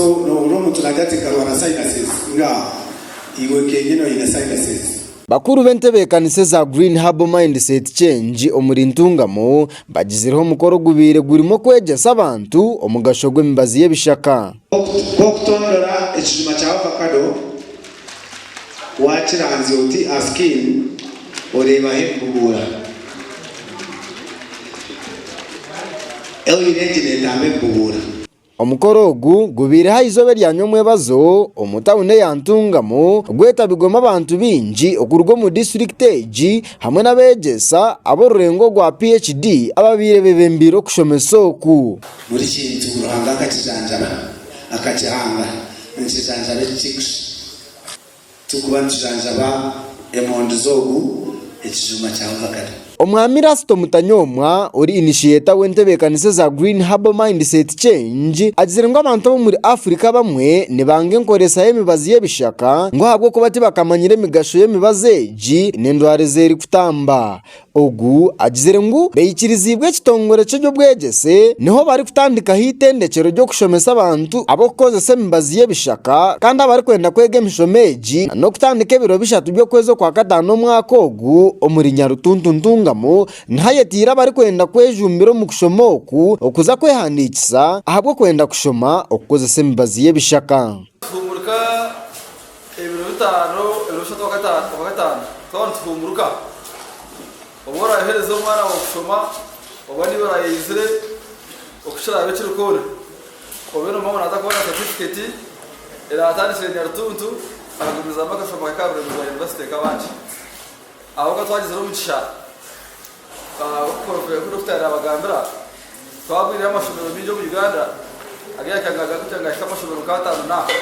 So noohurira omuntu naagira ati nkarwara sinuses ngaaho iwe kenyini oine sinuses. Bakuru b'entebeekanisa eza Green Herbal Mindset Change omuri Ntungamo bagizireho omukoro ogubaire gurimu okwegyesa abantu omugasho gw'emibazi y'ebishaka. Nk'okutondora ekijuma kya ovacado, waakiranzya oti aha skin oreebaho ebibuguura. Oil egi neetamba ebibuguura. Omukoro ogu gubaire aha izooba erya nyomwebazo omu tauni eya Ntungamo, gwetabirwemu abantu baingi okuruga omu disiturikiti egi hamwe n'abeegyesa ab'orurengo rwa PHD ababaire bebembeire okushomesa oku. Buri kintu Ruhanga akakijanjaba, akakihanga nikijanjaba ekikikusha. Turikuba nitujanjaba emondi z'ogu ekijuma kya ovakado. Omwami Erasto Mutanyoomwa ori inishiyeeta w'entebeekanisa za Green Herbal Mindset Change agizire ngu abantu ab'omuri Africa abamwe nibanga enkoreesa y'emibazi y'ebishaka ngu ahabw'okuba tibakamanyire emigasho y'emibazi egi n'endwara ezeerikutamba Ogu agizire ngu beikiriziibwe ekitongore ky'eby'obwegyese niho barikutandikaho eitendekyero ry'okushomesa abantu ab'okukozesa emibazi y'ebishaka kandi abarikwenda kwega emishomo egi n'okutandika ebiro bishatu by'okwezi okwa kataano omwaka ogu omuri Nyarutuntu Ntungamo niho ayetiire abarikwenda kwejumbira omu kushoma oku okuza kwehandiikisa ahabw'okwenda kushoma okukozesa emibazi y'ebishaka. Ebiro bitaano eri obushatu bwa gataano twaba nituhunguruka. Obu oraayohereze omwana waawe kushoma oba niiwe oraayeizire, oku kiraabe kiri kwona, obe noomanya ngu naza kuba na satifiketi eraatandikire Nyarutuntu akagumizamu akashoma ke ka buremeezi bwa yunivasite nk'abandi. Ahabw'okuba twagizire omugisha. Nk'oku Dokita yaabagambira, twagwireyo amashomero maingi omu Uganda ag'eihanga gaagarukira nigahika amashomero nk'ataano n'aha.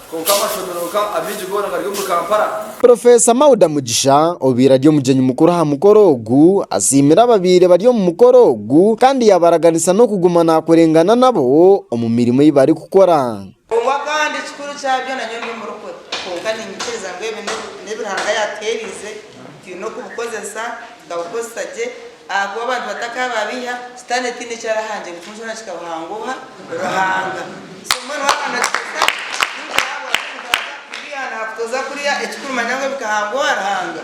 Kwonka amashomero nka amaingi goona gari omuri Kampala. Professor Mauda Mugisha obaire ari omugyenyi mukuru aha mukoro ogu, asiimire ababaire bari omu mukoro ogu kandi yaabaraganisa n'okuguma naakurengana nabo omu mirimo ei barikukora. Obumwe kandi ekikuru kyabyo na nyowe ndi murokore, kwonka niinyikiriza ngu ebi n'ebi Ruhanga yaatuheeriize, twine okubukozesa, tukabukozesa gye, ahakuba abantu batakaba babiiha, Sitaane taine eki arahangye ngu kinu kyona kikabuhangooha Ruhanga. So mbwenu waakunda kukozesa ekikungu ky'ahabwa Ruhanga, kubiiha naakutoza kurya ekikuru manya ngu ebikahangoha Ruhanga.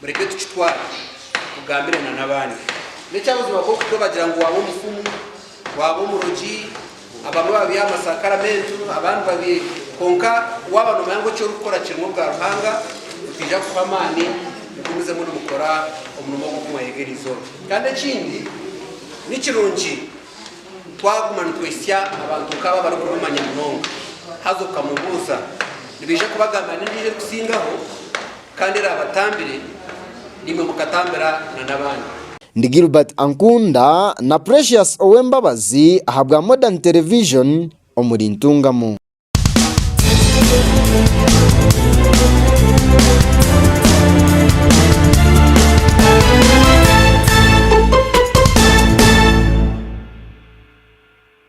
Mureke tukitware mugambire na n'abandi. N'ekyabuzima k'oku turabagira ngu waaba omufumu, waaba omurogi, abamwe babeiha amasakaramentu, abandi babi, kwonka waaba nomanya ngu eki orikukora kirimu obwa Ruhanga, nitwija kukuha amaani mugumizemu nimukora omurimo ogu oku mwayega eri izooba. Kandi ekindi, ni kirungi twaguma nitwitsya abantu nk'abo abarikubimanya munonga, haza okamubuuza, nibaija kubagambira n'endiijo erikusingaho. Kandi eraabatambire, naimwe mukatambira na n'abandi. Ndi Gilbert Ankunda na Precious Owembabazi ahabwa Modern Television omuri Ntungamo.